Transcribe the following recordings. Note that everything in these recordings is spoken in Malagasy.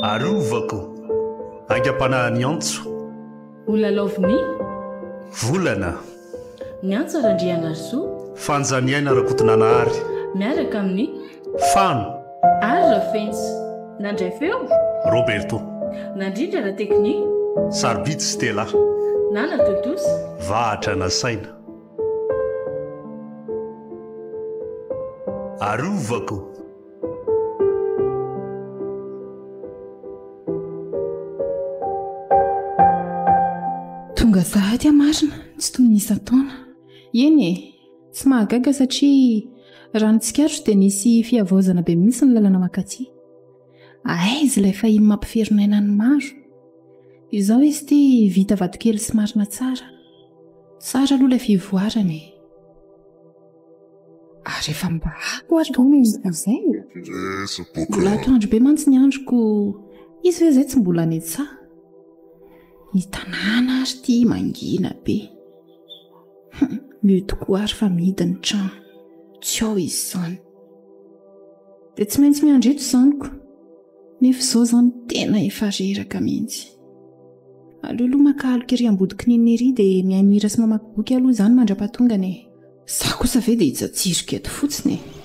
Arovako, aingam-panahin'ny antso. Ho lalaovin'ny. Volana. Ny antso Randrianarisoa. Fanja Niaina Rakotonanahary. Miaraka amin'ny. Fano. Ary Ravens, nandray feo? Roberto. Nandrindra na teknika? Sarobidy Stella. Na natontosa? Vahatra na saina? Arovako. Tonga sahady aho marina, tsy toy ny isan-taona. Eny e! Tsy mahagaga satria raha ny tsikarotro dia nisy fihavaozana be mihitsy ny lalana mankaty. Aiza ilay fahiny mampiferinaina ny maro? Izao izy ity vita vatokely sy marina tsara. Tsara aloha ilay fivoarana e. Ary efa mba ako ary koa ny izay. Mbola atoandro be mantsy ny androko. Izy ve izay tsy mbola any an-tsaha? Ny tanàna ary ity mangina be. Mio tokoa ary fa mihidy ny trano. Tsy ao izy izany. Dia tsy maintsy miandry eto izany ko. Nefa izao izany tena efa reraka mihitsy. Aleoloha maka aloka ery ambodik'Neny ery dia mihaino hira sy mamaky boky aloha izany mandra-pahatongany e. Izaho kosa ve dia hijajiroka eto fotsiny e.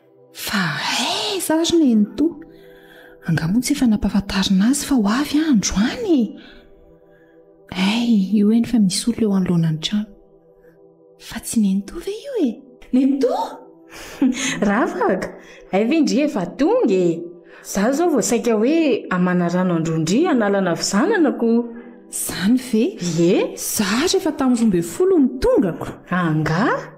Fa aiza ary Nenitoa? Angaha moa tsy efa nampahafantarina azy fa ho avy aho androany e? Hay, io eny fa misy olona eo anoloanan'ny trano. Fa tsy Nenitoa ve io e? Nenitoa! Ravaka! Hay ve ndry efa tonga e? Izaho izao vao saika hoe hamana rano an-drondria hanalana vizananako. Izany ve? Ie! Izaho ary efa tamin'ny roa ambin'ny folo no tongako. Angaha?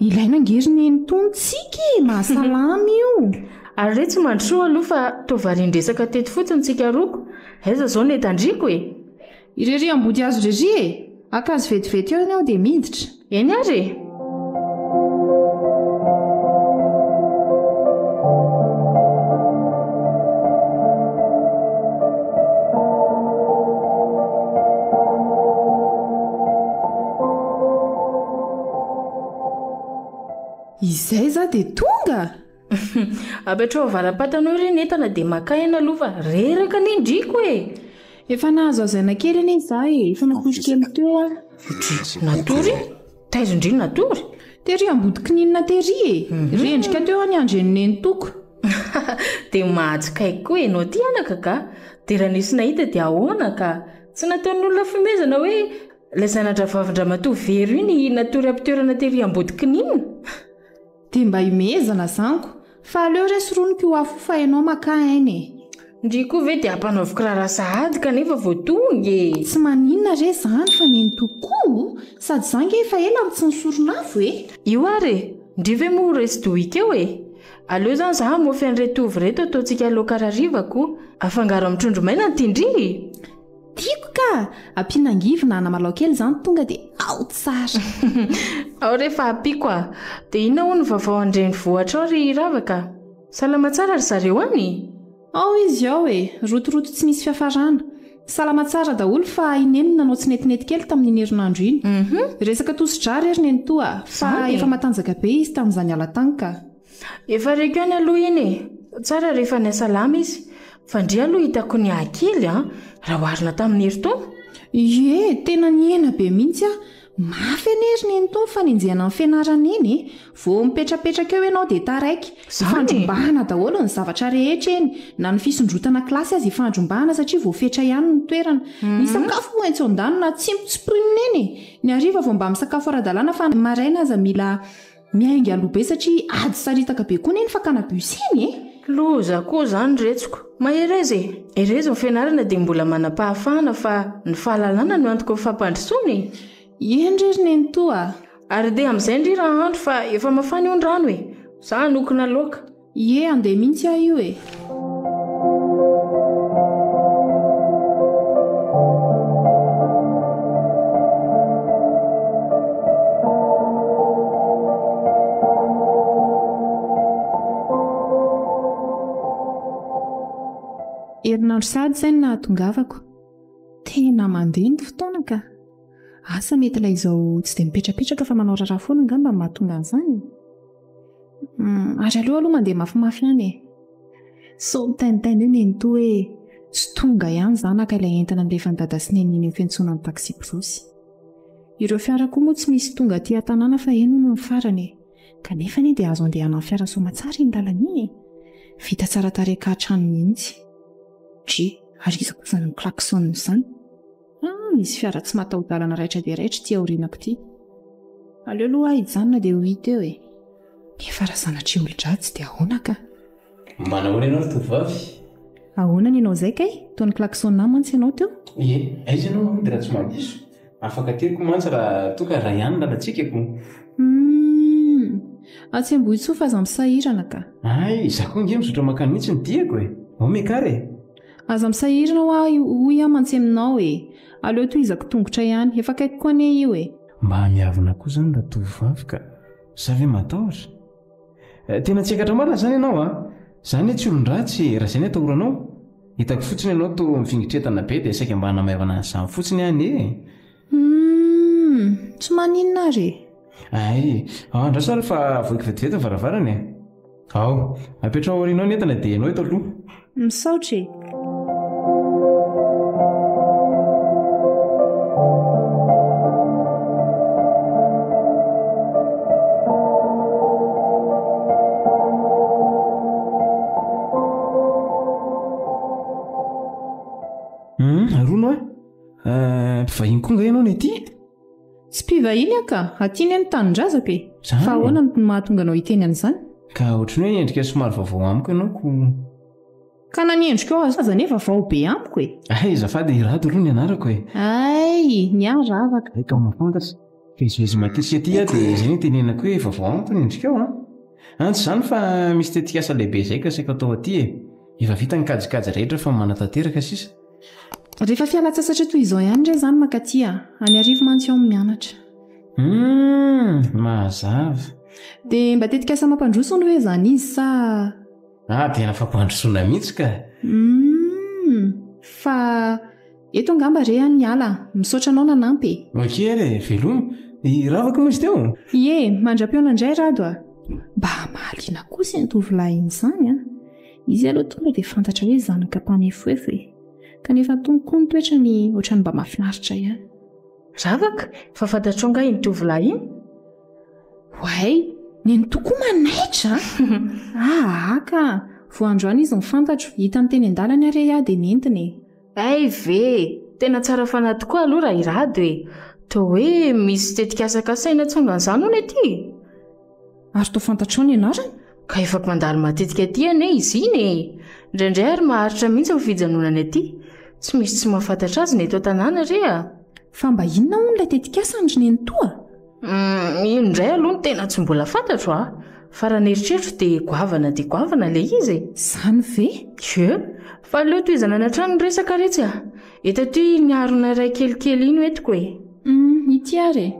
Ilaina ange ry neny tony tsika e, mahasalama io. Ary re tsy mandrosoa aloha fa toa varian-dresaka teto fotsiny tsika roa ko, aiza zao ny entandriko e? Irery ambodihazo irery e! Haka azy vetivety eo ny aho dia miditra. Eny ary e! Izay za dia tonga! Apetraho valam-patana eo re ny entana dia makà eny aloha fa reraka ny endriko e! Efa nahazo hazaina kely anie za e, efa natory kely teo aho. Natory? Taiza indray no natory? Tery ambody kininina tery e! Rendrika teo aho niandry an'i nenitoako. Dia mahatsikaiky koa ianao ty anaka ka! Dia raha nisy nahita dia ahoana ka! Tsy nataon'olona fihomezana hoe. Ilay zana-dRavavin-dRamatoa Vero iny natory am-pitoerana tery Ambodikinina? Dia mba himehezana zanko, fa aleo re soroniko io afo io fa ianao makà aina e! Ndry koa ve dia ampanaoviko raharaha sahady kanefa vao tonga e! Tsy maninona re izany fa nenitoako koa o! Sady izaho ange efa ela no tsy nisoron'afo e! Io ary e! Ndry ve moa ho resy dohiko eo e! Aleo izany izaho hamofy an'ireto ovy ireto ataontsika laoka hariva koa. Afangaro amin'ny trondro maina ny tindry e! Tiako ka! Ampiana angivy na anamalaho kely izany tonga dia ao tsara! Ao re fa ampiako a! Dia inona hono ny vaovao an-drenivohitra ao ry Ravaka? Salama tsara ry zareo any? Ao izy ao e! Rotoroto tsy misy fiafarana! Salama tsara daholo fa i Neny no nanao tsinetinety kely tamin'iny herinandro iny. Resaka tosi-drà re ry Nenitoa a! Fa efa matanjaka be izy tamin'izany hala tany ka! Efa reko ihany aloha iny e! Tsara rehefa any Salama izy. Fa ndry aloha hitako niahy kely an! Raha oharina tamin'ny Herintaona? Ie, tena nihena be mihitsy aho. Mafy anie ry Nenitoa ny fanenjehana ny fianarana eny e! Vao mipetrapetraka eo ianao dia taraiky. Ifandrombahana daholo ny zavatra rehetra eny, na ny fisondrotana kilasy aza ifandrombahana satria voafetra ihany ny toerana. Ny sakafo moa etsy an-danona tsy mitsimpirina eny e! Ny hariva vao mba misakafo ara-dalàna fa ny maraina aza mila Miainga aloha be satria ady saritaka be koa anie ny fakana bus iny e! Loza koa izany retsiko. Mahereza e! Erezy ny fianarana dia mbola manam-pahafahana fa ny fahalalana no antoky ny fampandrosoana e! Eny re ry nenitoa a! Ary dia amin'izay ndry raha andro fa efa mafana io ny rano e! Za hanokona laoka. Ie andeha mihintsy aho io e! Herinandro sahady izay no nahatongavako. Tena mandeha ny fotoana ka. Asa mety ilay izao tsy dia mipetrapetraka fa manao raharaha foana angamba no mahatonga an'izany? hmm, ary aleo aloha mandeha mafimafy any e sao mitainitaina eo nenito hoe tsy tonga ihany zanaka ilay entana nilefany dada sy neny eny fentsoana ny taksibrosy ireo fiara koa moa tsy misy tonga aty an-tanàna fa eny no ny farany e kanefa anie dia azo andehanan'ny fiara soamatsara iny lalana iny e vita tsara tarehinkahatra any mihitsy dri ary iza kosa ny klaxon izany Ha, misy fiara tsy mataho-dalana raitra dia raitra ity aorianako ity. Aleo aloha aho hijanona dia ho hita eo e. Nefa raha sanatria olon-dratsy dia ahoana kah? Manahoana ianao ry tovovavy? Ahoana ny anao izay kay? Toa ni-klaxon-na mantsy ianao teo. Ie, aiza ianao mody raha tsy mampiso? Afaka teriko mantsy raha toa ka Ryan lana tsikako. Humm! Atsy Ambohitsoa fa aza misahirana kah. Hay, izaho koa ange mizotra mankany mihitsy ny diako e. Ao Mekar e. Aza misahirana hoa hoy aho mantsy aminao e! Aleo tohizako tongotra ihany. Efa akaiky koa anie io e! Mba hamiavona koa izany ratovovavy ka! Za ve matahotra? Tena tsy ekatra marina izany ianao a! Za anie tsy olon-dratsy e! Raha izay ny atahoranao? Hitako fotsiny ianao toa mifingitretana be dia saika mba hanamaivana an'izany fotsiny aho anie e! Humm, tsy maninona ary e. Ay, ao andraso ary fa avoiko vetivety ny varavarana e. Ao, apetraho aorianao ny entana dia ianao eto aloha. Misaotra e. Eh, mpivahiny koa nga ianao ny aty? Tsy mpivahiny aho ka, aty anie ny tanindrazako e. Zany Fa e. ahoana no mahatonga anao hiteny an'izany? Ka ohatry ny hoe endrika somary vaovao amiko ianao ko. Ka na ny endrikao aza aza anie vaovao be amiko e. Hay azafady i Rado aloha ny anarako e. Ay, ny ahy ravaka. Hay ka mahafantatra. Ka izay izy matetika aty aho dia izay no itenenako hoe vaovao amiko ny endrikao an. An tsy izany fa misy tetikasa lehibe izay ka saika atao aty e. Efa vita ny kajikajy rehetra fa manatanteraka sisa. Rehefa fialan-tsasatra toy izao ihany re izany mankaty a! Any Arivo mantsy aho mianatra. Humm! Mazava. Dia mba tetikasa mampandroso hono ve izany izy sa. Ah, tena fampandrosoana mihitsy ka! Humm! Fa eto angamba re an ny ala. Misaotra anao nanampy e! Ok re, veloma. I Ravako moa izy teo? Ie, mandra-peona indray Rado a! Mba mahaliana kosa iny tovolahy iny izany an! Izy aloha tonga dia fantatra hoe zanaka mpanefoefo e. Kanefa tony koa ny toetrany ohatran'ny mba mahafinaritra ihany. Ravaka, fa fantatrao angaha iny tovolahy iny? Oay, nenitoa koa manaitra a! Ahaka, vao androany izy no fantatro, hitany teny an-dalana ary ahy dia nentiny e. Hay ve! Tena tsara fanahy tokoa aloha raha i Rado e! Toa hoe misy tetikasa kasaina tsongan'izany hono ity e! Ary toa fantatrao ny anarany? Ka efa mpandalo matetika aty anie izy iny e! Indraindray ary maharitra mihitsy ny fijanonany aty. Tsy misy tsy mahafantatra azy ny eto an-tanàna re a! Fa mba inona hono ilay tetikasany ry nenitoa? Uhm, iny indray aloha no tena tsy mbola fantatro a! Fa raha ny eritreritro dia goavana dia goavana ilay izy e! Izany ve? Ie! Fa aleo tohizana any an-trano ny resaka re tsy a! Eto aty iny harona iray kelikely iny hoentiko e! Uhm, ity ary e!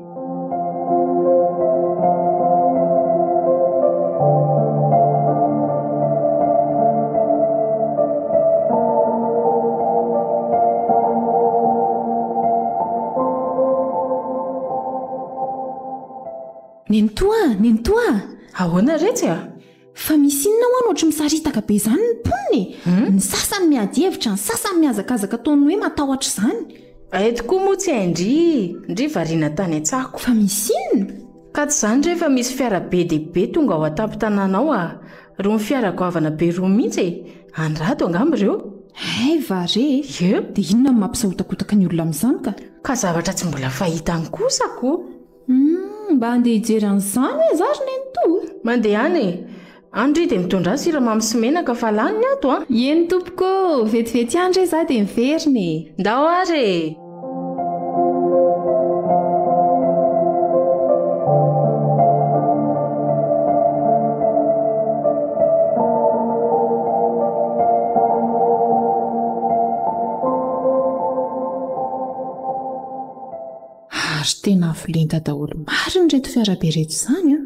Nenitoa a! Nenitoa a! Ahoana re tsy a! Fa misy inona ho'an ohatry misaritaka be izany ny mponina e! Ny sasany miady hevitra, ny sasany mihazakazaka toa ny hoe matahotra izany. Hay tokoa moa tsy hay ndry! Ndry variana tany an-tsako. Fa misy inona? Ka tsy izany re fa misy fiara be dia be tonga ao an-tampon-tanàna ao a! Rony fiara goavana be roa mihitsy e! Any rado angamba ireo? Hay va re e! Yeuh! Dia inona no mampisahotakotaka ny olona amin'izany ka? Ka zavatra tsy mbola fahita any kosa ko! Humm! Mba handeha hijery an'izany aho za ry nenitoa! Mandeha any e! Any re dia mitondra ahy siramamy sy menaka fa lany ny ato an! Ieny tompoko ô! Vetivety ihany re za dia miverina e! Ndao ary e! tena avo lenta daholo mari ny reto fiarabe reto izany a ah.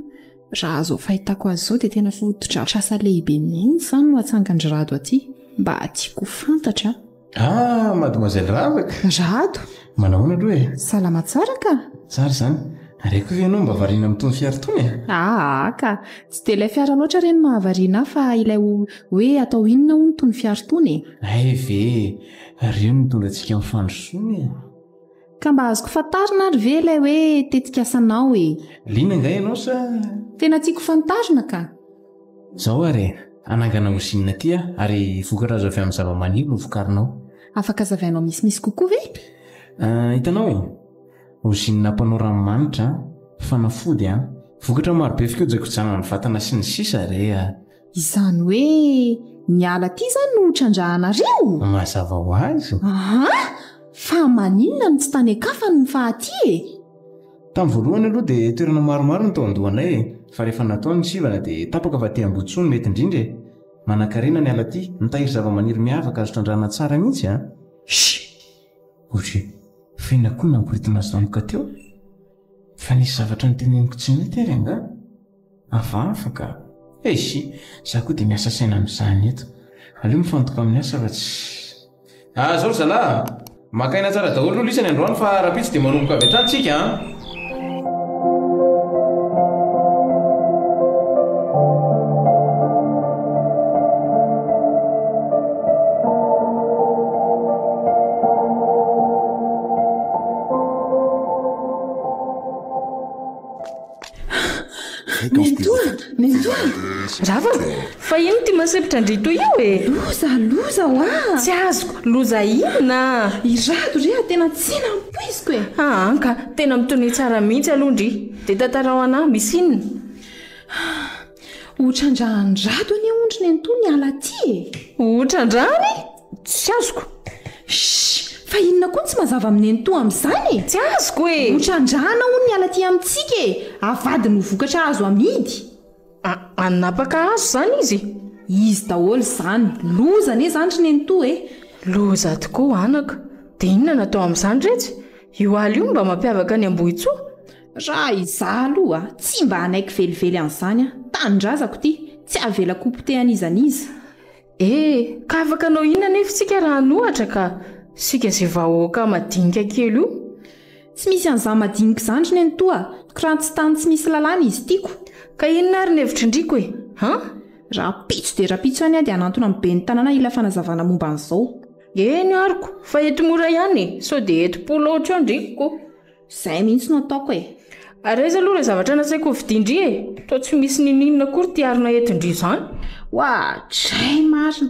raha azo fahitako azy izao dia tena fotodratra asa lehibe mihitsy izany no atsangan-dry rado aty mba tiako fantatra Ah, mademoiselle Ravaka Rado, Manahoana aloha e salama tsara ka Tsara izany Ary akoa ve ianao mba variana amin'itony fiara itony e Aa ka, tsy dia ilay fiara loatra re no mahavariana ahy fa ilay ho- hoe atao inona hono itony fiara itony e Hay ve e Ary io no nitondra antsika amin'ny fandrosoana e Ka mba azoko fantarina ary ve ilay hoe tetikasanao e Liana angaha ianao sa Tena tiako fantarina ka! Izao ary e! Hanangana ozinina aty aho ary vokatra azo avy amin'ny zavamaniry no vokarinao. Afaka hazavainao misimisy kokoa ve? Ah, hitanao e! Ozinina mpanao ranomanitra, fanafody an, vokatra marobe fikojakojana ny vatana sy ny sisa re a! Izany hoe ny ala aty izany no hotrandrahanareo? Mazava ho azy! Aa! Fa maninona no tsy tany an-kafany ny faha aty e? Tamin'ny voalohany aloha dia toerana maromaro no tao an-dohanay e, fa rehefa natao ny sivana dia tapaka fa aty Ambotsoa no mety indrindra e. Manankarena ny ala aty, mitahiry zavamaniry miavaka azo trandrahana tsara mihitsy an! Shhh! Ohatry f'inona koa no namporitana zanaka teo? Fa nisy zavatra noteneniko tsy mety ary angaha? Avafaka? Eish! Za koa dia miasa saina amin'izany eto. Aleo mifantoka amin'ny asa fa tsy. Ah zao ry zalahy a! Maka aina tsara daholo aloha lisany androany fa rahampitso dia manomboka avy hatrany tsika an! Nenitoa! Nenitoa! Rava! Fa ino ty masepitra an-dritoa io e? Loza! Loza ho ah! Tsy azoko! Loza inona? I Rado re ah tena tsy nampoiziko e! Aa ka! Tena mitonia tsara mihitsy aloha ndry! Dia tantarao anah, misy inona? Otran-dRandrado anie hono ry Nenitoa niala aty e! Otran-drany? Tsy azoko. Shh! Fa inona koa no tsy mazava amin' neny toa amin'izany e? Tsy azoko e! Ho trandrahana hono ny ala aty amintsika e! Avadiny ho vokatra azo amidy. A, hanapaka hazo izany izy? Izy daholo izany. Loza anie izany ry nenitoa e! Loza tokoa anaka. Dia inona no atao amin'izany iretsy? Io ala io no mba mampiavaka an'i Ambohitsoa. Raha izaho aloha, tsy mba hanaiky velively an'izany aho. Tanindrazako ity, tsy avelako ho potehan'iza n'iza. E! Ka afaka hanao inona anefa isika raha hanohatra ka? Isika izay vahoaka madinika kely io? Tsy misy an'izany madinika izany ry nenitoa, kirantsy tany tsy misy lalàna izy tiako. Ka inona ary ny hevitry ndriko e? An? Rahampitso dia rahampitso ihany aho dia hanantona amin'ny ben'ny tanàna hila fanazavana momba an'izao. Eny aroko, fa eto mora ihany e, sao dia eto polo aotra eo ndriko. Zay mihitsy no ataoko e! Ary aiza aloha ilay zavatra nasaiko hovidian-dry e? Toa tsy misy n'inon'inona akory ty harona entin-dry izany. Oadray marina!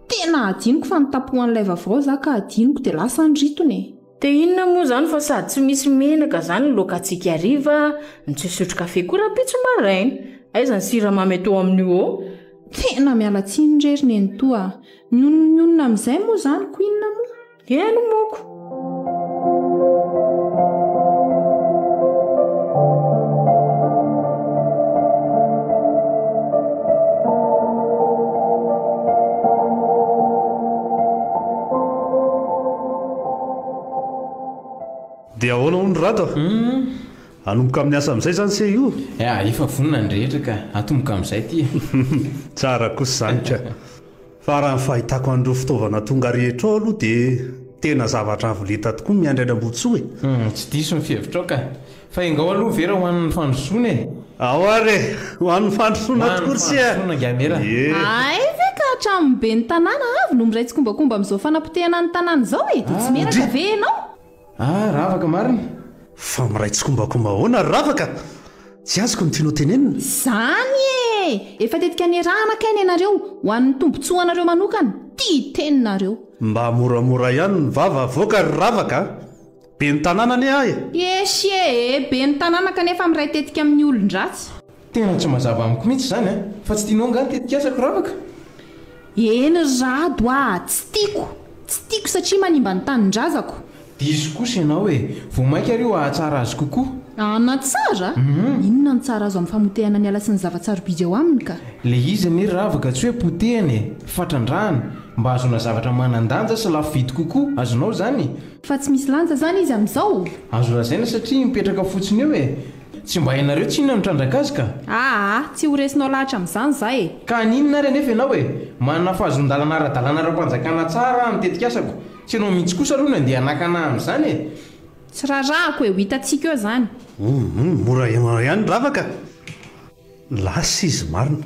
Tena hadinoko fa nitapo an'ilay vavao za ka hadinoko dia lasa niritona e! Dia inona moa izany fa sady tsy misy menaka izany ny loakantsika hariva, no tsy hisotro kafe koa rahampitso maraina. Aiza ny siramamy atoa amin'io ô? Tena miala tsiny re ry nenitoa a! Ny olona ny olona amin'izay moa izany ko inona moa? Eny moko! Dia ahoana hono Rado a? Hanomboka amin'ny asa amin'izay izany se io? Efa vonona ny rehetra ka, hatomboka amin'izay ity e! Tsara kosa izany ka! Fa raha ny fahitako an'ireo fitaovana tonga rehetra ao aloha dia tena zavatra avo lenta tokoa ny an'i Raiambontsoa e! Humm, tsy diso ny fihevitrao ka! Fa engao aloha ve raha ho an'ny fandrosoana e! Ao ary e! Ho an'ny fandrosoana tokoa ry se a! Ho an'ny fandrosoana angaha Mera! Ie! Hay ve ka hatramin'ny ben'ny tanàna avy no miray tsikombakomba amin'izao fanapotehana ny tanàna izao e! Dia tsy miheraka ve ianao? Ah ravaka marina? Fa miray tsikombakomba ahoana ry ravaka? Tsy azoko ny tianao tenenina? Zany e! Efa tetika niarahana kay ny anareo, ho an'ny tombotsoa anareo manokana, tia teny nareo. Mba moramora ihany ny vava avoaka ry ravaka a! Ben'ny tanàna anie aho e! Eshie e! Ben'ny tanàna kanefa miray tetika amin'ny olon-dratsy. Tena tsy mazava amiko mihitsy izany an! Fa tsy tianao angaha ny tetikasako ravaka? Eny ry Rado a! Tsy tiako! Tsy tiako satria manimba ny tanindrazako! Diso kosa ianao e! Vao mainka ary io hahatsara azy kokoa! Hanatsara? Inona no tsara azo amin'ny famotehana ny ala sy ny zava-tsarobidy ao aminy ka? Ilay izy anie ravaka tsy hoe potehana e! Fa trandrahana, mba hahazoana zavatra manan-danja sy lafo vidy kokoa! Azonao izany? Fa tsy misy lanja izany izy amin'izao? Azo lazaina satria mipetraka fotsiny eo e! Tsy mba hainareo tsy inona no trandraka azy ka! Aa! Tsy ho resinao lahatra amin'izany za e! Ka haninona ary anefa ianao e! Manana fahazoan-dalana ara-dalàna ara-panjakana tsara aho ny tetikasako, tsy ianao mihitsy kosa aloha no andeha hanakana ahy amin'izany e! Tsy rarahako e! Ho hitantsika eo izany! Humm! Mora ianao ihany ravaka! Lasa izy marina!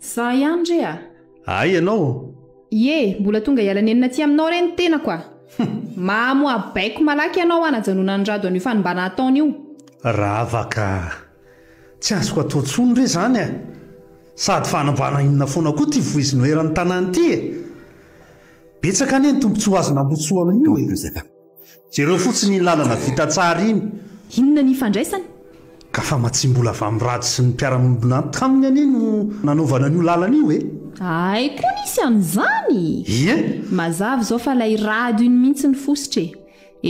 Za ihany re a! Ay ianao? Ie, mbola tonga hiala nenina aty aminao re ny tenako a! Mahamoha baiko malaky ianao hanajanonan'i Rado an'io fanimbana ataony io. Ravaka a! Tsy azoko atao intsony re izany a! Sady fanambana inona foana koa ity voizinoheran'ny tanàna ity e! Betsaka anie ny tombontsoa azo nambotsoa amin'io e! Jereo fotsiny iny lalana vita tsara iny. Inona ny ifandraisany? Ka fa matsimbola vamirady sy ny mpiara-miombona taminy anie no nanaovana an'io lalana io e! Ay koa nisy an'izany? Ie! Mazava izao fa ilay rado iny mihitsy ny fositra e!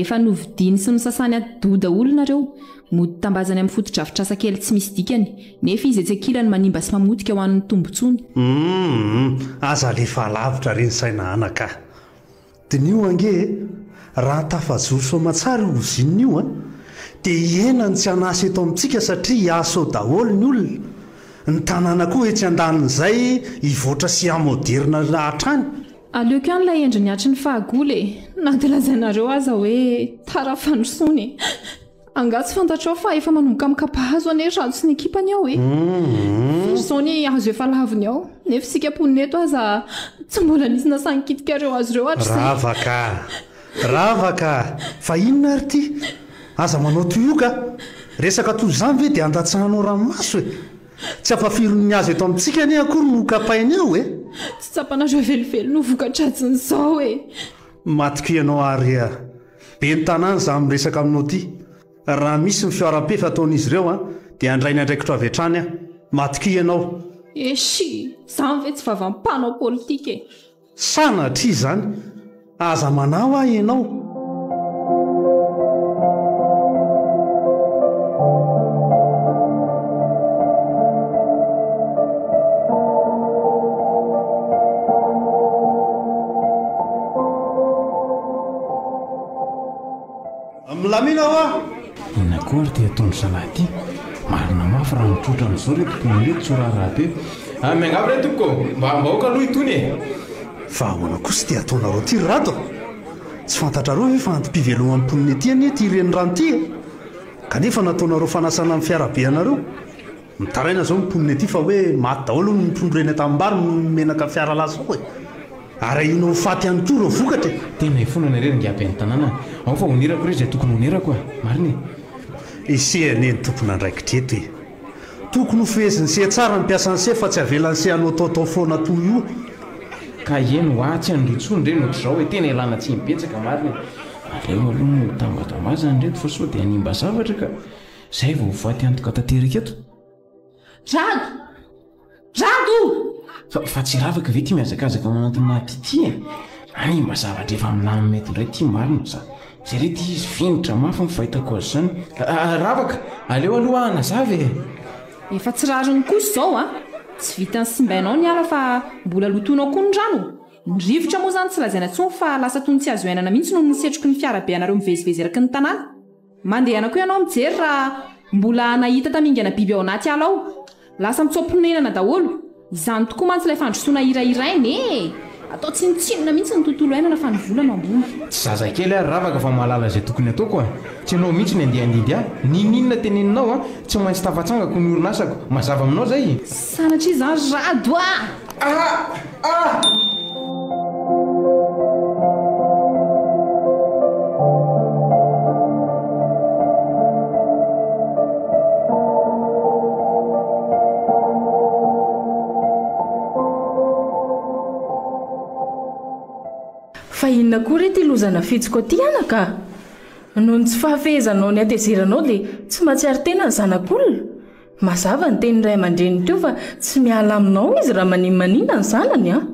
Efa novidiany sy nosasany atidoha daholo nareo, mody tambazany amin'ny fotodrafitrasa kely tsy misy dikany, nefa izy etsy ankilany manimba sy mamotika ho an'ny tombontsony. Humm, aza alefa alavitra re ny saina anaka a! Diniho ange e! Raha tafajoro soamatsara io ozinina io an! Dia hihena ny tsy an'asa eto amintsika satria hiasa ao daholo ny olona. Ny tanàna koa etsy andanin'izay hivoatra sy hamoderina hatrany. Aleoko ihany ilay endriny hatry ny fahagola e! Na dia lazainareo aza hoe tara fandrosoana e! Angaha tsy fantatrao fa efa manomboka mikapahazo anie raha tsy ny ekipany ao e. Very izao ny hazo efa laviny ao, nefa isika mponina eto aza tsy mbola nisy nasahin-kitika ireo hazo ireo hatrizay. Rava ka! Rava ka! Fa inona ary ity? Aza manao tuyau ka! Resaka toy izany ve dia andatsahanao ranomaso e? Tsy ampafirin'ny hazo eto amintsika anie akory no hokapainy ao e! Tsy tsapanareo velively no voka-dratsin'izao e! Matiko ianao ary a! Ben'ny tanàna izaho miresaka aminao ity. Raha misy ny fihoaram-pefy ataon'izy ireo dia handray ny andraikitro avy hatrany aho. Matokia ianao. Eshi! Izany ve tsy vava mpanao politika e! Sanatria izany! Aza manahy ahy ianao! Milamina hoa! Inona koa ary ity ataon'ny zalahy ity? Marina mafy raha mitrotra amin'izao ireto mpiomaly eto tsy ho raharaha be. Ah, miangavy re tompoko, mba ambahoaka aloha itony e! Fa ahoana kosa ity ataonareo ity ry Rado a! Tsy fantatrareo ve fa antom-piveloman'ny mponina ety anie ity renirano ity e! Kanefa nataonareo fanasana ny fiarabe anareo. Mitaraina zao ny mponina ety fa hoe maty daholo ny trondro reny atam-bary noho ny menaka fiara latsaka e! Ary ahiana ho faty ihany koa ireo vokatra e! Tena ifonana irery ngiahy ben'ny tanàna a! Ao fa honerako irery izay tokony honerako a! Marina e! Ise anie ny tompon'andraikitra eto e! Tokony hofeheziny se tsara ny mpiasan'ny se fa tsy avelany se hanao taotao foana toa io! Ka ieny hoa tsy handrotsony re no trizao e! Tena ialana tsiny betsaka marina e! Aleo aloha no ho tambazambazana ireto fa sao dia hanimba zavatra ka! Izay vao voaty antoka tanteraka eto. Jado! Jado! Fa fa tsy ravaka ve ty mihazakazaka ao anatin'ny naty ty e? Anie mba zavatra efa milamina eto indray ty marina za. Zay re ty izy fingotra mafy ny fahitako azy zany. Ravaka! Aleo aloha hanazava e! Efa tsy rariny kosa izao a! Tsy vitan'ny simbainao ny ala fa mbola lotoinao koa ny rano! Ny rivotra moa izany tsy lazaina intsony fa lasa toy ny tsy azo iainana mihitsy noho ny setroky ny fiara be anareo mivezivezy eraky ny tanàna. Mandehana koa ianao mijery raha mbola nahita tamingana biby ao anaty ala ao. Lasa mitsoa-ponenana daholo. Izany tokoa mantsy ilay fandrosoana hirahiraina e! Atao tsinontsinona mihitsy ny tontolo iainana fa ny vola no ambony. Tsy zazakely aho ry ravaka fa mahalala izay tokony ataoko a! Tsy ianao mihitsy ny andeha handidy ahy. N'inon'inona teneninao a! Tsy maintsy tafatsangako ny orinasako. Mazava aminao izay? Sanatria izany ry Rado ah! Fa inona koa re ity loza nafidiko aty anaka a! Noho ny tsy fahafehezanao ny hatezeranao dia tsy mahatsiaro tena ny zanak'olona? Mazava ny tenin'ny ray aman-dreniny teo fa tsy miala aminao izy raha maninmanina ny zanany an!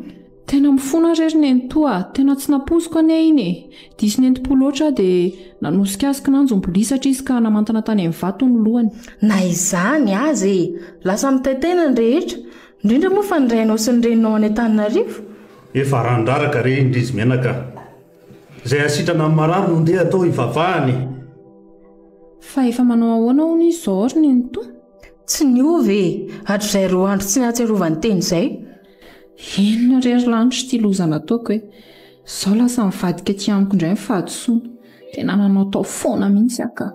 Tena mifona re ry nenitoa a! Tena tsy nampoiziko anie iny e! Diso nentim-po loatra aho dia nanosika azy kinanjo mbolisatra izy ka namantana tany amin'ny vato ny lohany. Na izany aza e! Lasa mitay tena ny rehetra, indrindra moa fa ny rainao sy ny reninao any Antananarivo. Efa randraraka re indry izy menaka a! Izay hasitrana ny marary no ndeha atao hivavahana e! Fa efa manao ahoana hono izy izao ry nenitoa? Tsy niova e! Hatrizay roa andro tsy nahatsiarovany teny izay. Inona re ry lanitra ity loza nataoko e! Izao lasa nivadika aty amiko indray ny fahadisoana. Tena nanao tao foana mihitsy aho ka!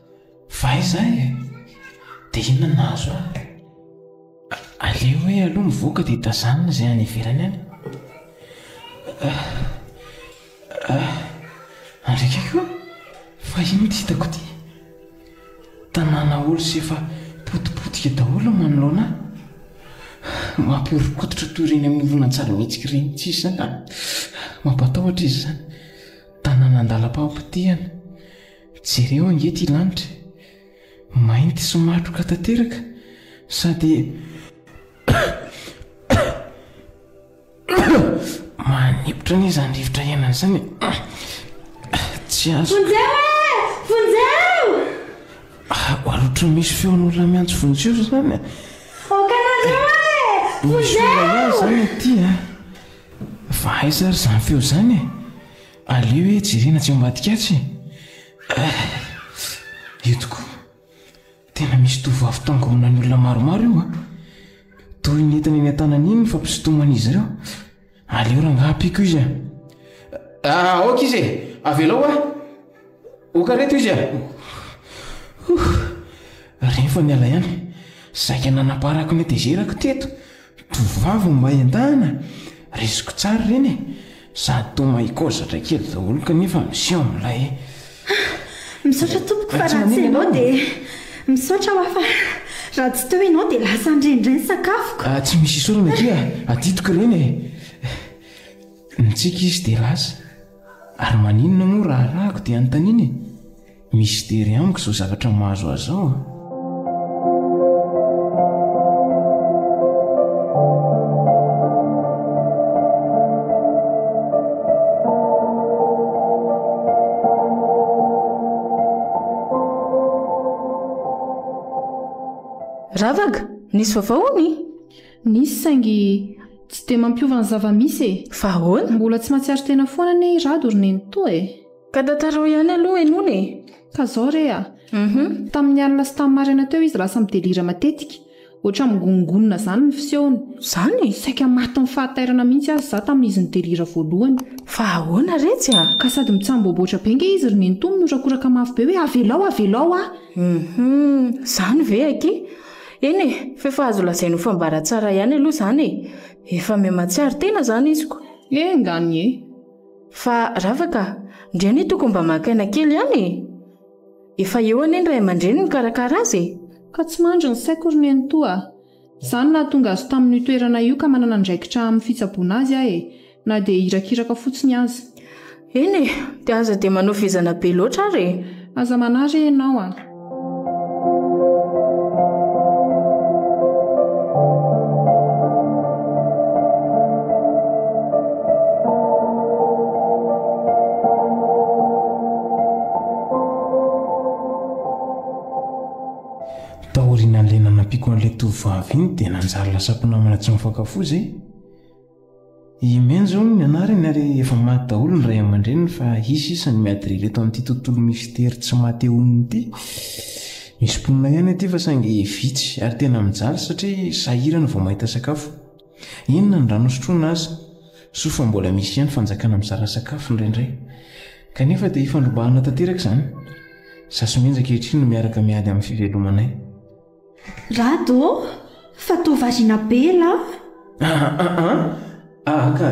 Fa aiza ahy e? Dia inona no nahazo ahy? Aleo hoe aloha mivoaka dia tazanina izay any ivelany any. Ah, ah, andriaka koa, fa inona ity hitako ity? Tanàna olo sy efa potipotika daholo manoloana ahy. Mampihoron-koditra toy ireny amin'ny horonantsary mihetsika ireny tsy izany. Mampatahotra izy izany. Tanàna an-dalam-pampitihana. Jereo ange ity lanitra e! Mainty sy matroka tanteraka sady manipitra anie izany rivotra iainana izany e! Tsy azo. Vonjeo e! Vonjeo! Ohatran'ny misy feon'olona miantso vonjeo izany e! Aokanareo e! Vonjeo! Misy olona ihany izany aty e! Fa aiza ary izany feo izany e! Aleo e jerena tsy ambadika atsy e! Ah! Eto koa, tena misy tovovavy tangoronan'ny olona maromaro io a! Toy ny entana eny an-tanany iny ny fampisintoman'izy ireo. Aleo rangaha ampiako izy a! Ah, aoka izy e! Avelao aho! Oka reto izy a! Huh! Reny fa niala ihany. Saika nanamparako ny hatezerako teto. Tovovavy no mahay an-dahana? Resiko tsara ireny e! Sady toa mahay koa zatra kely daholo kanefa miseho milay e! Misaotra tompoko fa raha tsy ianao dia Misaotra hoa fa raha tsy teo ianao dia lasa nirendrey ny sakafoko. Ah, tsy misy isaorana akia, adidiko ireny e! Nitsiky izy dia lasa. Ary maninona moa raha arahako dia anontaniana e? Mistery amiko izao zavatra mahazo ahy izao a! Ravaka, nisy vaovao hono e? Nisy saingy tsy dia mampiova ny zava-misy e! Fa ahoana? Mbola tsy mahatsiaro tena foana anie i Rado ry nenitoa e! Ka tantarao ihany aloha e Nony e! Ka zao re a! Tamin'ny alina sy tamin'ny maraina teo izy lasa midelira matetika. Ohatran'ny migonongonona izany ny fisehony. Izany? Saika matin'ny fahatairana mihitsy aza izaho tamin'izy nidelira voalohany. Fa ahoana re tsy a! Ka sady mitsamboaboatra be ange izy ry nenitoa minorakoraka mafy be hoe avelao avelao aho! Hum! Izany ve akia? Eny e, f'efa azo lazaina ho fambaratsara ihany aloha izany e! Efa miha mahatsiaro tena izany izy ko! Enga anie! Fa rava ka! Ndry anie tokony mba maka aina kely ihany e! Efa eo anie ny ray aman-dreny mikarakara azy e! Ka tsy mandry ny saiko ry nenitoa a! Izaho no nahatonga azy tamin'io toerana io ka manana andraikitra amin'ny fitsaboana azy aho e! Na dia irakiraka fotsiny aza. Eny e! Dia aza dia manao vizana be loatra ary e! Aza manary e ianao a! Taorian'ilay nanampiako an'ilay tovovavy iny dia nanjary lasa mpinamana tsy mifankafoza e! I Meng izao no nianarany ary efa maty daholo ny ray aman-dreniny fa hisy sisa ny miady rely eto amin'ity tontolo mistery tsy matehonina ity. Misy mponina ihany aty fa saingy vitsy ary tena mijaly satria sahirana vao mahita sakafo. Inona ny rano hosotroina aza? Soa fa mbola misy ihany fanjakana mizara sakafo indraindray. Kanefa dia ifandrombahana tanteraka izany. Izaho sy Meng ankehitriny no miaraka miady amin'ny fivelomanay. Rado ô! Fa toa variana be lah! Aah ka,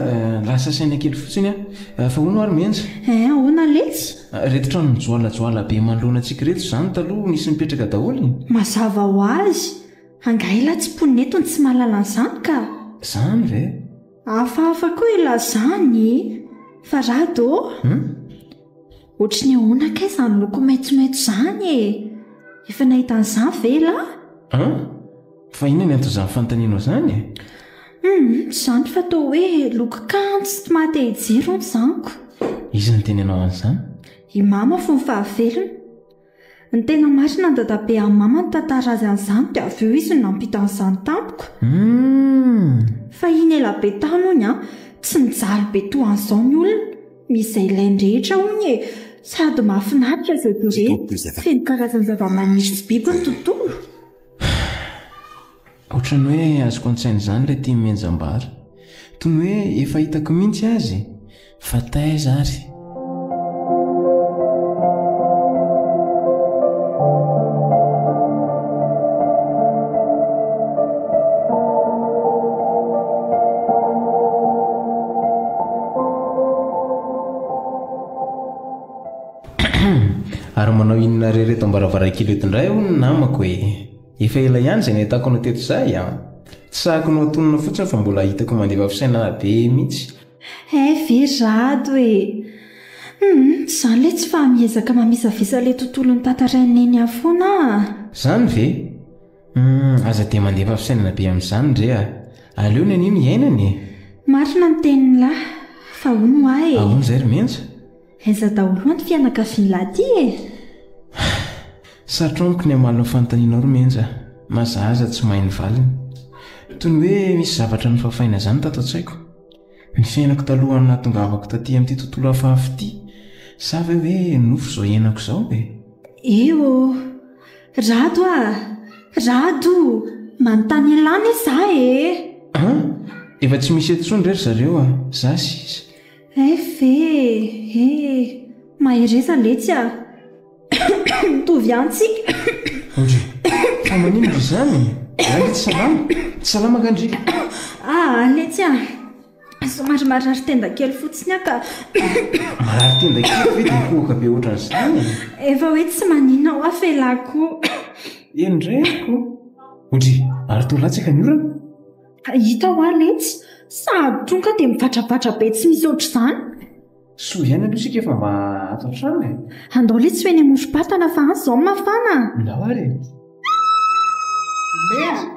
lasa saina kely fotsiny aho. Fa hono ary Menjy? Eh, ahoana letsy? Ireto trano mijoalajoala be manoloana antsika ireto izany taloha nisy nipetraka daholo e! Mazava ho azy! Angaha elah tsy mponina eto ny tsy mahalala an'izany ka! Izany ve? Hafahafa koa elah izany e! Fa Rado ô! Hum? Ohatry ny ahoana kay izany loko maitsomaitso izany e? Efa nahita an'izany ve ialahy? An? Fa inona ny anton'izany fanontanianao izany e? Hum, izany fa toa hoe loko kanto sy tsy maha-te-hijery hono izany ko. Iza no teny hanao an'izany? I Mama fony fahavelony. Ny tena marina dadabe an mama ny tantara azy an'izany dia avy eo izy no nampita an'izany tampoka. Hum. Fahiny ela be tany hono an, tsy nijaly be toa an'izao ny olona, misy izay ilainy rehetra hono e, sady mahafinaritra izay jerena, feno karazana zava-maniry sy biby ny tontolo. Ohatran'ny hoe azoko an-tsaina izany ilay tim henjam-bary. Toy ny hoe efa hitako mihitsy azy e! Fa taiza ary? Ary manao inona irery eto am-baravarankely eto indray hono ny namako e! Efa ela ihany izay nahitako anao teto izay an! Tsy sahako ny ho antonona fotsiny fa mbola hitako mandefa fisainana be mihitsy. Hay ve rado e! Hum, izany ilay tsy faha-miezaka mamisavisa ilay tontolo notantarain'i Nenia foana an! Izany ve? Hum, aza dia mandefa fisainana be amin'izany re a! Aleo Nenia no iainana e! Marina ny tenin'lah, fa hono ahy e! Ahoana izay ry Menja? Aiza daholo an ty fianakavian lahy ty e! Sarotra amiko ny hamaly ny fanontanianao ry Menja a! Mazahaza tsy mahay ny valiny. Toy ny hoe misy zavatra nofafaina izany tato an-tsaiko. Ny fiainako talohan'ny nahatongavako taty amin'ity tontolo hafahafa ity, sa ve hoe nofy izao iainako izao e? Eo ô! Rado a! Rado! Manontany an'lah anie za e! An! Efa tsy misy eto intsony re ry zareo a! Za sisa. Eff e! e! Mahereza letsy a! Mitovy ihany tsika! Andry, fa maninona ry izany e? Andry tsy salama? Tsy salama nga ndry? Ah, letsy a! Somary marary tenda kely fotsiny aho ka! Marary tenda kely ve dia hihohoka be ohatran'izany e? Efa hoe tsy maninona aho afa elah koa! Eny indray ary koa! Ondry, ary toa latsaka ny orana? Ka hita hoa letsy, sahady toa ka dia mivatrabatra be tsy misy ohatr'izany. Soa ihany aloha isika efa mba ato an-trano e! Andao letsy ho eny amorom-patana fa any izao no mafana a! Ndao ary e! Mendrika!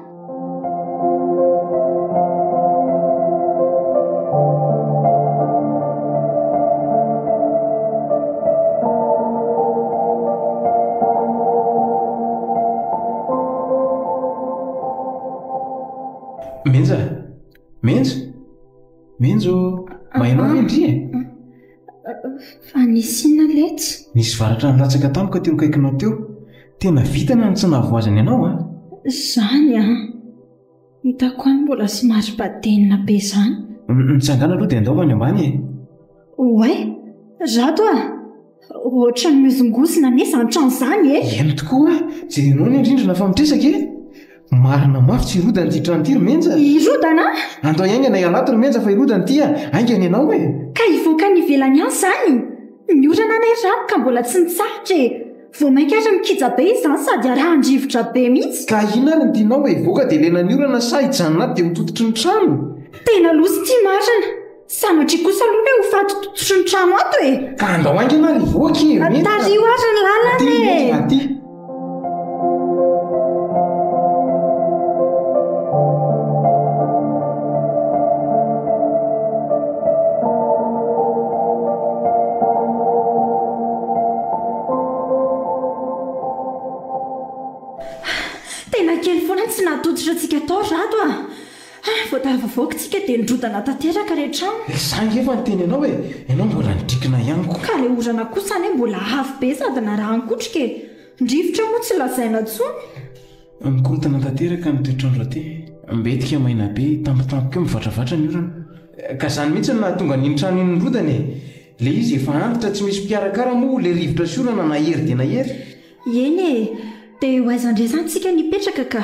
Menja! Menja! Menja ô! Mahinao ve ndry e? Fa nisy inona letsy? Nisy varatra nilatsaka tampoka teo akaikinao teo. Tena vitana ny tsy nahavoazana ianao an! Izany an! Hitako any mbola somary badenina be izany. Mitsangàna aloha dia andao ho any ambany e! Oay! Rato a! Ohatran'ny mihozongozona anie izany trano izany e! Eny tokoa, jereo ny rindrina fa mitresaka e! Marina mafy tsy hirodana ity trano ity ry Menja! Hirodana? Andao hiaingana ialato ry Menja fa hirodana ity a! Haingana ianao e! Ka hivoaka any ivelany any izany? Ny orana anay rako ka mbola tsy nitsahatra e! Vao mainka ary mikija be izany sady arahan-drivotra be mihitsy! Ka inona ary no tianao e? Hivoaka dia lena ny orana sa hijanona ato dia ho tototry ny trano? Tena loza ity marina! Sanatria kosa aloha hoe ho faty tototr'i ny trano ato e! Ka andao haingana ary hivoaka e! Mety fa- Tariho ary ny lalana Aty, e! mety fa aty. Tena kely foana ny tsy nahatototra antsika tao ry Rado a! Ha! vao tafavoaka tsika dia nirodana tanteraka re trano. Ry za angefa niteny anao e! Ianao mbola nidrikina ihany ko. Ka le orana kosa anie mbola avo be sady narahan-kotroka e! Ny rivotra moa tsy lazaina tsony. Mikorontana tanteraka ny toetr'andro aty. Mbetika maina be, tampotampoka eo mivatravatra ny orana. Ka zany mihitsy no nahatonga an'iny trano iny nirodana e! Le izy efa antitra tsy misy mpikarakara moa le rivotra sy orana nahery dia nahery. Eny e! Dia ho aiza ndray zany tsika nipetraka ka?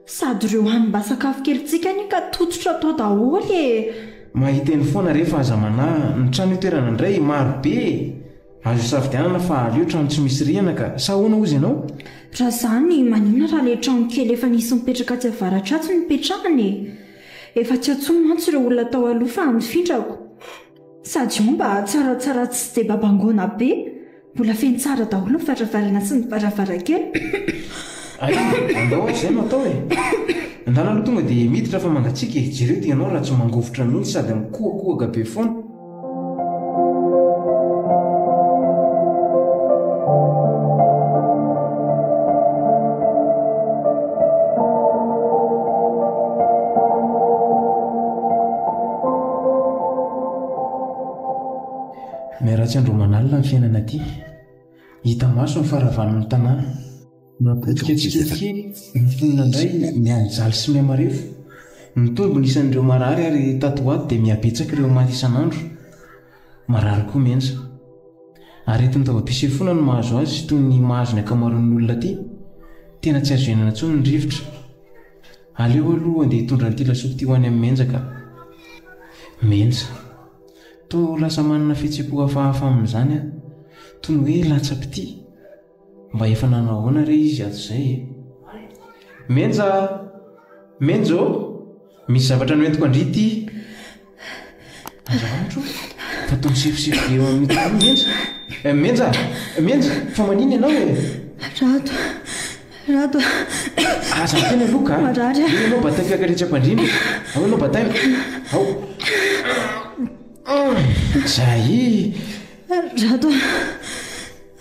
Sady ireo hanimba-sakafo kelintsika anie ka tototra tao daholo e! Mahiteny foana re fa aza manahy ny trano itoerana indray, maro be e! Azo isafidianana fa aleo trano tsy misy rihana ka sa ahoana hozy ianao? Raha izany maninona raha ilay trano kely efa nisy nipetraka atsy avaratra atsy no petrahana e? Efa tsy antsoiny mantsy ireo olona tao aloha fa mifindrako. Sady io mba tsaratsara tsy dia babangoana be, mbola feno tsara daholo ny varavarana sy ny varavarankely. Ay, andao izay no atao e! Andana aloha tonga dia miditra fa mangatsiaka e! Jereo dia ianao raha tsy mangovitra mihitsy sady mikohakohaka be foana. Miharatsy andro aman'alina ny fiainana aty. Hita maso ny faharavan'ny tanàna. Mapotika tsikelikely ny mponina indray mianjaly sy mihamarefo. Mitombo ny isan'ireo marary ary tato ho ato dia mihabetsaka ireo maty isan'andro. Marary koa Menja. Aretin-daobi-pisefoana no mahazo azy toy ny mahazo ny ankamaroan'ny olona aty. Tena tsy azo iainana intsony ny rivotra. Aleo aloha andeha hitondra an'ity lasopy ity ho any amin'i Menja ka. Menja. Toa ho lasa manana fihetsem-po hafahafa amin'izany aho. Toy ny hoe latsa-pitia. Mba efa nanao ahoana re izy hatrizay e? Menja! Menja ô! Misy zavatra noentiko an-dry ity. Aza antso fa toa misefosefo be eo amin'ny tany i Menja. Eh, Menja! Menja! Fa manina ianao e! Rado! Rado! Aza miteny aloha ka! Marary aho. Eo ianao bataiko hiakaretsy am-pandriana e! Ao ianao bataiko! Ao! Zay! Rado!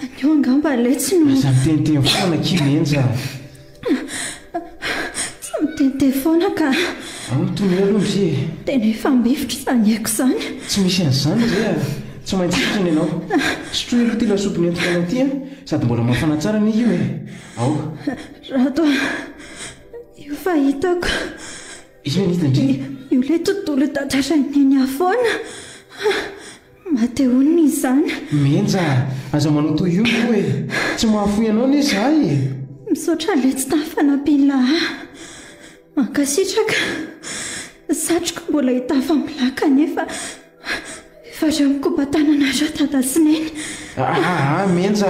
Anio angamba ilay tsy no. Aza miteniteny foana akia Menja! Tsy mitete foana ka. Amin'ny toy ny hoe aloha ry e. Tena efa mifitra izany aiko izany. Tsy misy an'izany ry a! Tsy maintsy hitrany ianao. Sotroy aloha ity lasopy nentiko anao ity a! Sady mbola mafana tsara anie io e! Ao. Rado a! Io fahitako. Inona indrindra? Io ilay tontolo tantaran'i Neny afoana. Matehon ny zana. Menja a! Aza manao toy io moa e! Tsy mahafoy anao anie izahay e! Misaotra letsy tamin'ny fanampiana ahy. Mankasitraka. Ny satroko mbola hitafa amin'ny laka anefa efa reo mikopa-tanana reo dada sy neny. Ahaa Menja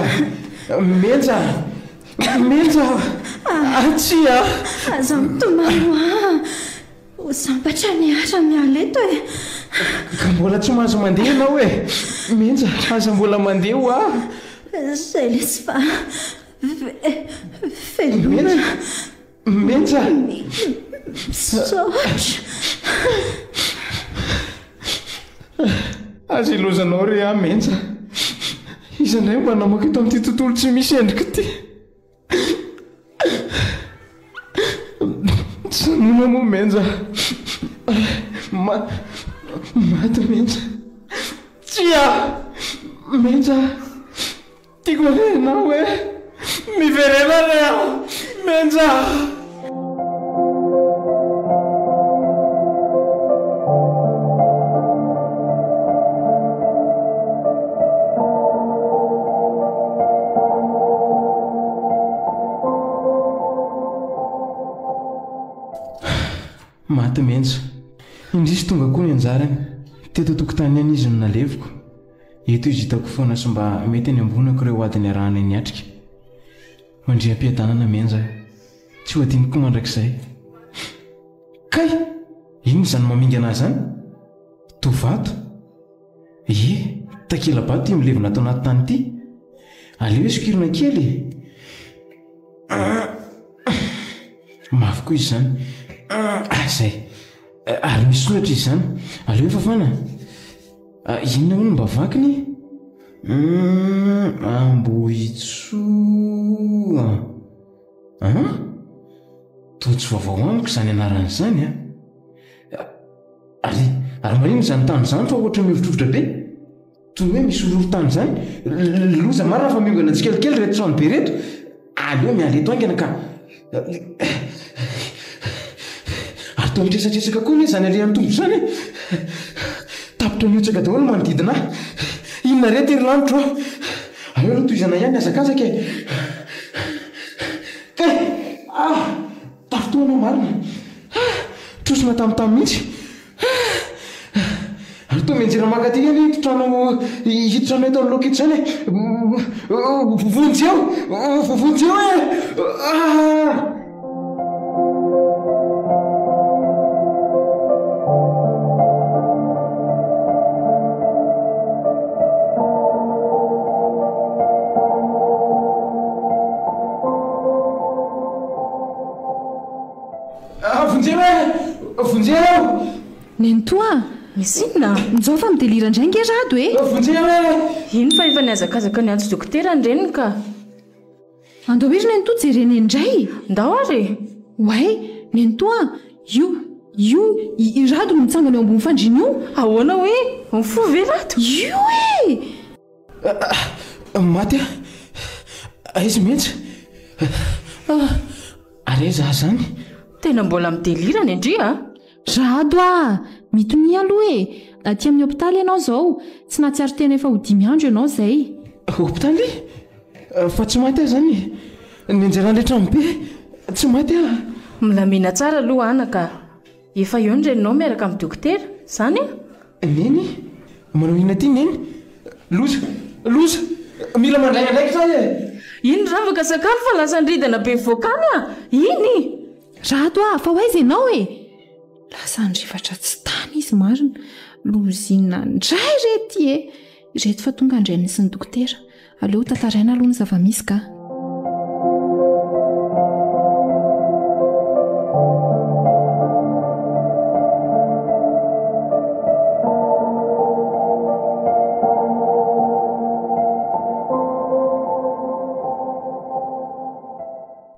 a! Menja a! Menja a! Tsia a! Aza mitomany hoa! Ho sambatra ny ara miala eto e! Ka mbola tsy mahazo mandeha ianao e! Menja, aza mbola mandeha hoa! Izay lesy fa ve, veloma! Menja! Misaotra! Aza ilozanao re aho Menja! Iza indray mba namoaka eto amin'ity tontolo tsy misy endrika ity? Mijanona moa Menja Maty Menja Tsia Menja Tiako re ianao eh Miverena re aho Menja. Maty menja. Indrisy tonga koa ny anjarany. Teto an-tokotany ihany izy no naleviko. Eto izy hitako foana sy mba mety any ambonako ireo ady niarahana niatrika. Mandria am-piadanana Menja a! Tsy ho adino koa mandrakizay. Kay! Inona izany mamingana ahy izany? Toa vato? Ie, takela-bato io milevina ato anaty tany ity. Aleo isokirina kely e! Aa! Mafy koa izy izany. Aa! Izay. Ary misy soratra izy izany. Aleo fafana. Ah, inona hono mba vakiny? Hum, Ambohitsoa. Ah? Toa tsy vaovao amiko izany anarana izany an. Ah. Ary, ary marina izany tany izany fa ohatra mihovitrovitra be. Toy ny hoe misy horohorontany izany. Loza marina fa miongana tsikelikely ireto trano be ireto. Aleo miala eto haingana ka Ary toa mitresatresaka koa anie izany alehan'ny tombo izany e! Tapitra mihotsaka daholo ny manodidina ahy. Inona re ity ry lanitro a! Aleo aloha tohizana ihany ny hazakazaka e! Kay! Ah! Tafintohina aho marina ah! Trosona tamintany mihitsy ah! Ary toa mianjera mankaty anie ito trano hiditra anay tao aloha ito izany eh! Vonjeo! Vonjeo eh! Ah! Vonjeo e! Vonjeo! Nenitoa a! Misy inona? Mijao fa midelira indray nge Rado e! Vonjeo e! Eny fa efa nihazakazaka niantso dokotera ny reniny ka! Andao ery Nenitoa jerena eny indray! Ndao ary e! Oay! Nenitoa a! Io, io i Rado no mitsangana eo ambony fandriana io! Ahoana hoe? Mifo ve Rado? Io e! Maty aho! Aiza mihitsy? Ary aiza aho izany? Tena mbola mi-delirana indry a! Jado a! Mitonia aloha e! Aty amin'ny hopitaly ianao izao. Tsy nahatsiaro tena efa ho dimy andro ianao izay. Hopitaly? Fa tsy maty aho izany e! Nianjera an-dry Tranobe! Tsy maty aho! Milamina tsara aloha anaka a! Efa eo ny reninao miaraka amin'ny dokotera, izany an? Neny, manao inona ity Neny? Loza! Loza! Mila mandray andraikitra aho e! Iny ravaka sakafo fa lasa andridana be vokany an! Iny! Rato a! Fa ho aiza ianao e? Lasa handrefatra tsy tany izy marina! Lozinina indray re ity e! Ireto fa tonga indray mihitsy ny dokotera! Aleo ho tantaraina aloha ny zava-misy ka.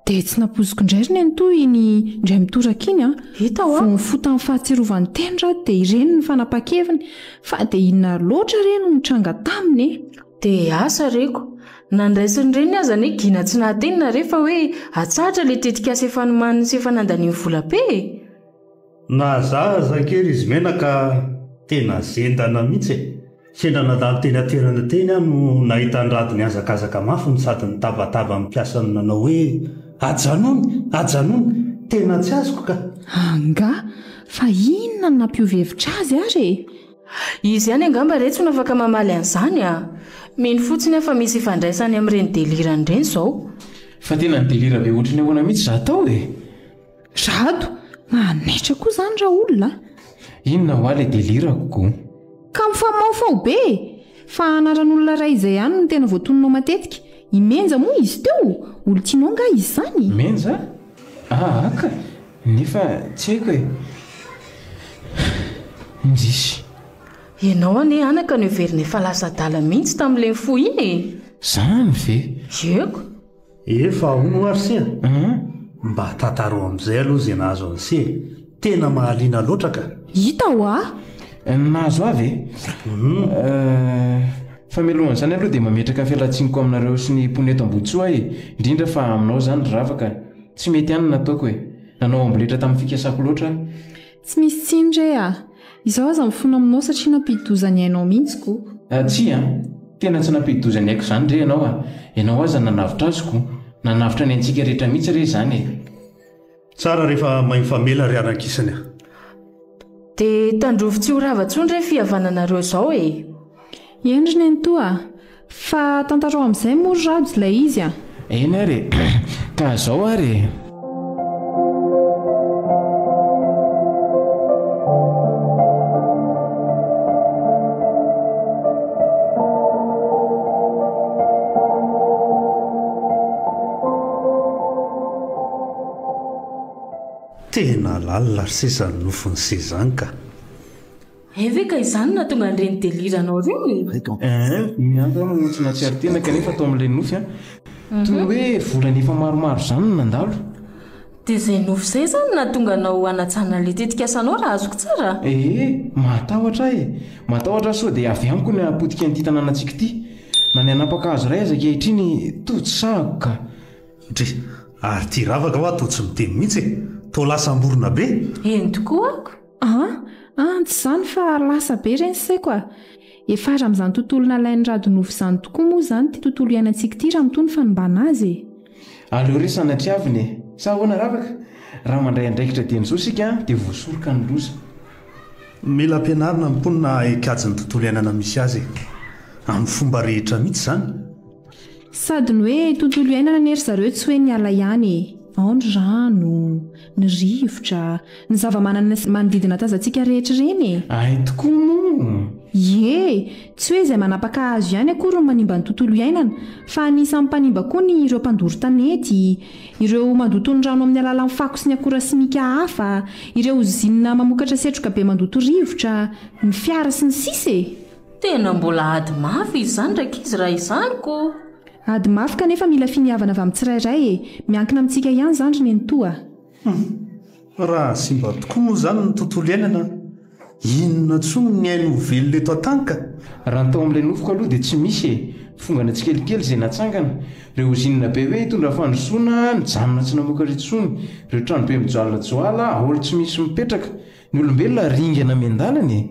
dia tsy nampoziko indray ry nenitoa iny indray mitoraka iny a hita ho vao mifotan'ny fahatsirovany teny raha dia ireny ny fanapa-keviny fa dia inona loatra re no nitranga taminy e Dia asa reko. Nandraisin'ireny aza anie gina tsy nahateny nare fa hoe atsahatra ilay tetikasa efa nomaniny sy efa nandaniany vola be e! Nahazahazaha kely izy Mena ka tena zendana mihitsy e! Sendra nandalo teny an-toerana teny aho no nahita an-dRado nihazakazaka mafy no sady nitabataba ny mpiasany nanao hoe, Ajanony! Ajanony! Tena tsy azoko ka! Angaha? Fa inona no nampiova hevitra azy ary e? Izy ihany angamba retsy no afaka mamaly an'izany a! Mino fotsiny aho fa misy ifandraisany amin'ireny delirany ireny izao. Fa tena ni-delira be ohatry ny ahoana mihitsy izaho tao e! Rado, manaitra koa izany raolona a! Inona hoa ilay delirako ko? Ka mifamaofy ao be e! Fa anaran'olona iray izay ihany no tena voatoninao matetika. I Menja moa izy teo? Olon-tianao angaha izy izany? Menja? Ahh ka! Nefa tsy haiko e! Indrisy. Ianao anie anaka no heverina efa lasa adala mihitsy tamin'ilay nifoha iny e! Zany ve? Yeuka. Efa ahoana oa ry se a? Mba tantaro amin'izay aloha izay nahazo an'i se e! Tena mahaliana loatra ka! Hita ho'a! Ny nahazo ahy ve? Humm. Famelohan'izany aloha dia mametraka fialan-tsiniko aminareo sy ny mponina eto Amboditsoa e! Indrindra fa aminao izany ry ravaka. Tsy mety ihany ny nataoko e! Nanao amboletra tamin'ny fikasako loatra aho. Tsy misy tsiny re a! Izaho aza mifona aminao satria nampidi-doza ny ainao mihitsy ko! Tsia a! Tena tsy nampidi-doza ny aiko izany re ianao a! Ianao aza nanavotra azy ko! Nanavotra ny aintsika rehetra mihitsy re izany e! Tsara rehefa mahay mifamela ry haran-kisiny a! Dia tandrovy tsy ho rava intsony re fihavananareo izao e! Eny ry nenitoa a! Fa tantarao amin'izay moa ry rhajo ilay izy a! Eny ary e! Ka izao ary e! Tena lalina ry seza ny nofon'i sezan ka. Hay ve ka izany no nahatonga an'ireny délire anao ireny e? Eehh ny ahy zany tsy nahatsiaro tena kanefa tao amin'ilay nofy an! Toy ny hoe volana efa maromaro izany no nandalo. Dia izay nofy izay izany no nahatonga anao hanajanona ilay tetikasanao raha azoko tsara a! Eehh mahatahotra ahy e! Matahotra aho sao dia avy amiko ny hahapotika an'ity tanànantsika ity! Na ny hanapaka hazo iray aza ankehitriny toa tsy sahako ka! Dry! Ary tia ravaka hoa toa tsy miteny mihitsy e! Toa lasa amborona be! Eny tokoa ako! An! an! tsy izany fa lasa be ireny saiko a! Efa ary amin'izany tontolo nalain'i Radonofo izany tokoa moa izany ity tontolo iainantsika ity raha mitohy ny fanimbana azy e! Aleo re sanatriavina e! Sa ahoana Ravaka? Raha mandray andraikitra dieny izao isika dia voasoroka ny loza. Mila ampianarina ny mponina hahay kajy ny tontolo iainana misy azy e! Amin'ny fomba rehetra mihitsy izany! Sady ny hoe tontolo iainana anie ry zareo tsy hoe ny ala ihany e! Ao ny rano, ny rivotra, ny zava-manana sy ny manodidina tazantsika rehetra ireny e! Hay tokoa moa! Ie! Tsy hoe izay manapaka hazo ihany akory no manimba ny tontolo iainana fa anisan'ny mpanimba koa ny ireo mpandoro tanety, ireo mandoto ny rano amin'ny alalan'ny fako sy ny akora simika hafa, ireo ozinina mamokatra setroka be mandoto rivotra, ny fiara sy ny sisa e! Tena mbola ady mafy izy izany rankizy raha izany ko! Ady mafy kanefa mila finiavana avy amin'ny tsirairay e! Miankina amintsika ihany izany ry nenitoa a! Humm! Raha simba tokoa moa izany ny tontolo iainana, inona intsony ny ainy ho velona eto an-tany ka! Raha ny tao amin'ilay nofiko aloha dia tsy misy e! Fongana tsikelikely izay natsangana. Ireo ozinina be hoe hitondra fandrosoana nijanona tsy namoaka intsony. Ireo tranobe mijoalajoala, haolo tsy misy mipetraka. Ny olombelona ringana miandalana e!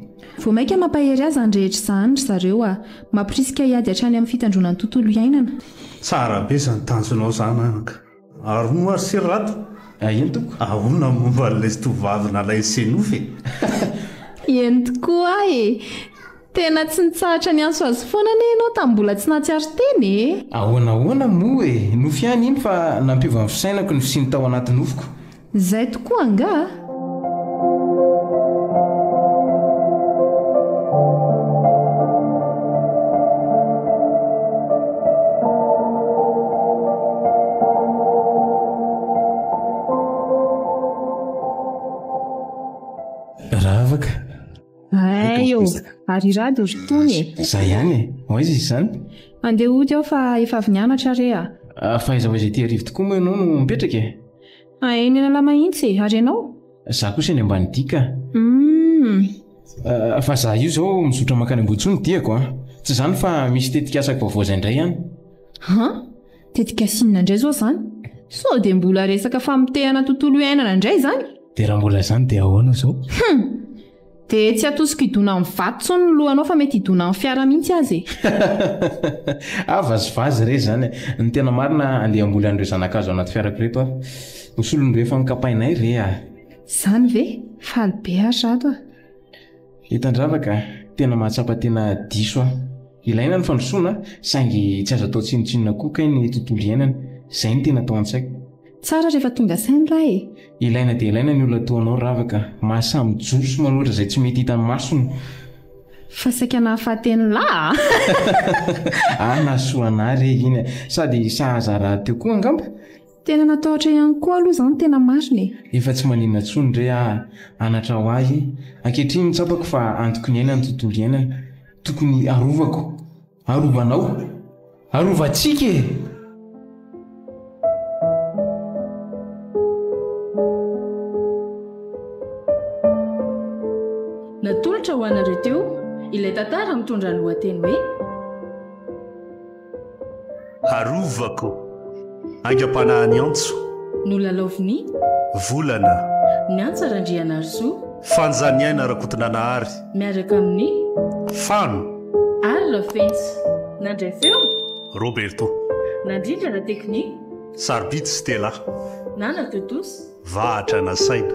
Vao mainka mampahery ahy izany rehetra izany ry zareo a! Mamporisika hiady hatrany amin'ny fitandroana ny tontolo iainana. Tsara be zany tanjonao zany anaka. Ary moa ry se Rado, ahona momba an'ilay tovovavy nalain'i se nofy e? Eny tokoa e! Tena tsy nitsahatra niantso azy foana anie ianao tamin'ny mbola tsy nahatsiaro tena e! Ahoana ahoana moa e! Nofy ihany iny fa nampiova ny fisainako ny fisiany tao anaty nofiko. Zay tokoa angaha? ary irady ry tony e za ihany e ho aiza izany andeha ody aho fa efa avy nianatra re a ah, fa aiza ho aiza ity arivo tokoa moa ianao no mipetraka e Hahay nilalao mahintsy e! Ary ianao? Za kosa eny ambany dihy ka! Hum. Fa za io zao mizotra mankany Ambohitsoa no diako a! Tsy zany fa misy tetik'asa vaovao zay ndray any. Han! Tetik'asa inona ndray zao zany? Sao dia mbola resaka famotehana tontolo iainana ndray zany? Dia raha mbola zany dia ahoana zao? Hum! Dia tsy atosiko hidona amin'ny vato intsony ny lohanao fa mety hidona amin'ny fiara mihitsy aza e! ah vazivazy re zany eh! Ny tena marina andeha hamboly an'ireo zanakazo anaty fiarako ireto aho. Ho solon'ireo efa nokapainay re ah! Zany ve? Faly be ary rato ah! Hitandravaka, tena mahatsapa tena diso aho. Ilaina ny fandrosoana saingy tsy azo atao tsinontsinona koa kay ny tontolo iainana. Izay no tena tao an-tsaiko. Tsara rehefa tonga saina raha e! Ilaina dia ilaina ny olona toa anao Ravaka, mahasahy mijoro sy manohitra izay tsy mety hitan'ny masony. Fa saika nahafaty an'i Lah a! Ah nahasoa anah re iny a! Sady sahaza rahateo koa angamba? Tena natahotra ihany koa aloha izany tena marina e! Efa tsy maninona intsony re aho, anatra ho ahy e! Ankehitriny tsapako fa antoko ny aina ny tontolo iainana, tokony arovako. Arovanao. Arovantsika e! Natolotra ho anareo teo ilay tantara mitondra ny lohateny hoe. Harovako. Aingam-panahy ny antso. Nolalaovin'i. Volana. Ny antsa Randrianarisoa. Fanjaniaina Rakotonanahary. Miaraka amin'ny. Fano. Ary Rafenjy. Nandray feo. Roberto. Nandrindra na teknika. Sarobidy Stella. Na natontosa. Vahatra nasaina.